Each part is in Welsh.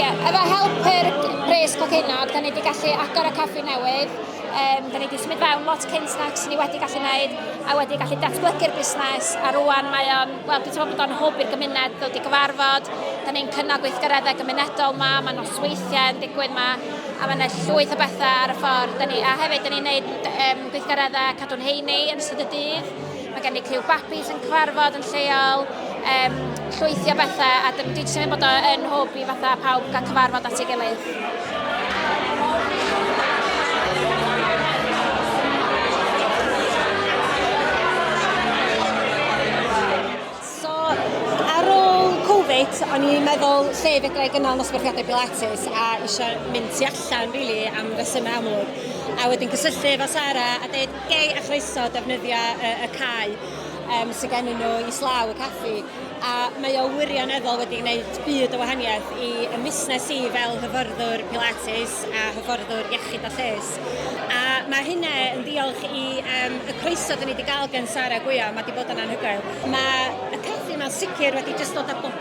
Ie, efo help yr bres coginod, da ni wedi gallu agor y coffi newydd. Um, da ni wedi symud fewn lot cynt nag sy'n ni wedi gallu gwneud, a wedi gallu datblygu'r busnes, a rwan mae o'n, wel, dwi'n teimlo bod o'n hwb i'r gymuned ddod i gyfarfod. Da ni'n cynnog gweithgareddau gymunedol yma, mae nosweithiau yn digwydd yma, a mae yna llwyth o bethau ar y ffordd. Da ni, a hefyd, da ni'n gwneud um, gweithgareddau cadw'n heini yn ystod y dydd. Mae gen i criw babi sy'n cyfarfod yn lleol, um, llwythio bethau, a dwi jyst yn bod yn hwb i fatha pawb gael cyfarfod at ei gilydd. So, ar ôl Covid, o'n i'n meddwl lle fedra i gynnal nosbarthiadau Pilates a eisiau mynd tu allan, really, am resymau amlwg. A wedyn cysylltu efo Sara a dweud, gei a chroeso defnyddio y, y cae um, sydd gennym nhw i slaw y caffi a mae o wirioneddol wedi gwneud byd o wahaniaeth i y busnes i fel hyfforddwr pilates a hyfforddwr iechyd a lles. A mae hynna yn ddiolch i um, y croeso dyn ni wedi cael gen Sara Gwya, mae wedi bod yn anhygoel. Mae y caffi yma'n sicr wedi jyst dod â bob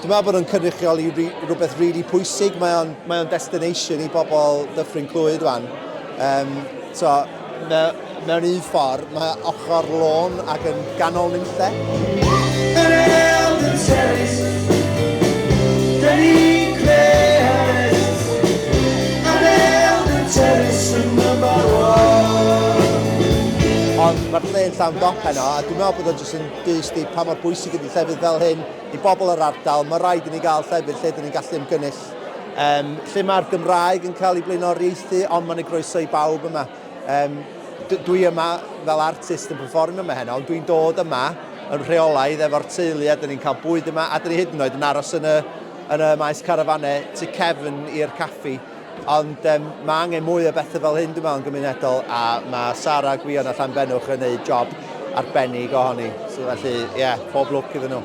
Dwi'n meddwl bod nhw'n cynrychioli rhywbeth rili really pwysig. Mae o'n, mae on destination i bobl Dyffryn Clwyd wan. Um, so, me, mewn un ffordd, mae ochr lôn ac yn ganol nynlle. Ond mae'r lle'n llawn dop heno, a dwi'n meddwl bod o'n jyst yn dyst i pa mor bwysig ydy llefydd fel hyn i bobl yr ardal, mae rhaid i ni gael llefydd lle dyn ni'n gallu ymgynnull, um, lle mae'r Gymraeg yn cael ei blaenoriaethu, ond mae'n ei groeso i bawb yma. Um, dwi yma fel artist yn performio yma heno, ond dwi'n dod yma yn rheolaidd efo'r teulu a dyn ni'n cael bwyd yma a dyn ni hyd yn oed yn aros yn y, yn y maes carafanau tu cefn i'r caffi Ond um, mae angen mwy o bethau fel hyn, dwi'n meddwl, yn gymunedol, a mae Sara Gwion a Llan Benwch yn gwneud job arbennig ohoni. So, felly, ie, yeah, pob lwc iddyn nhw.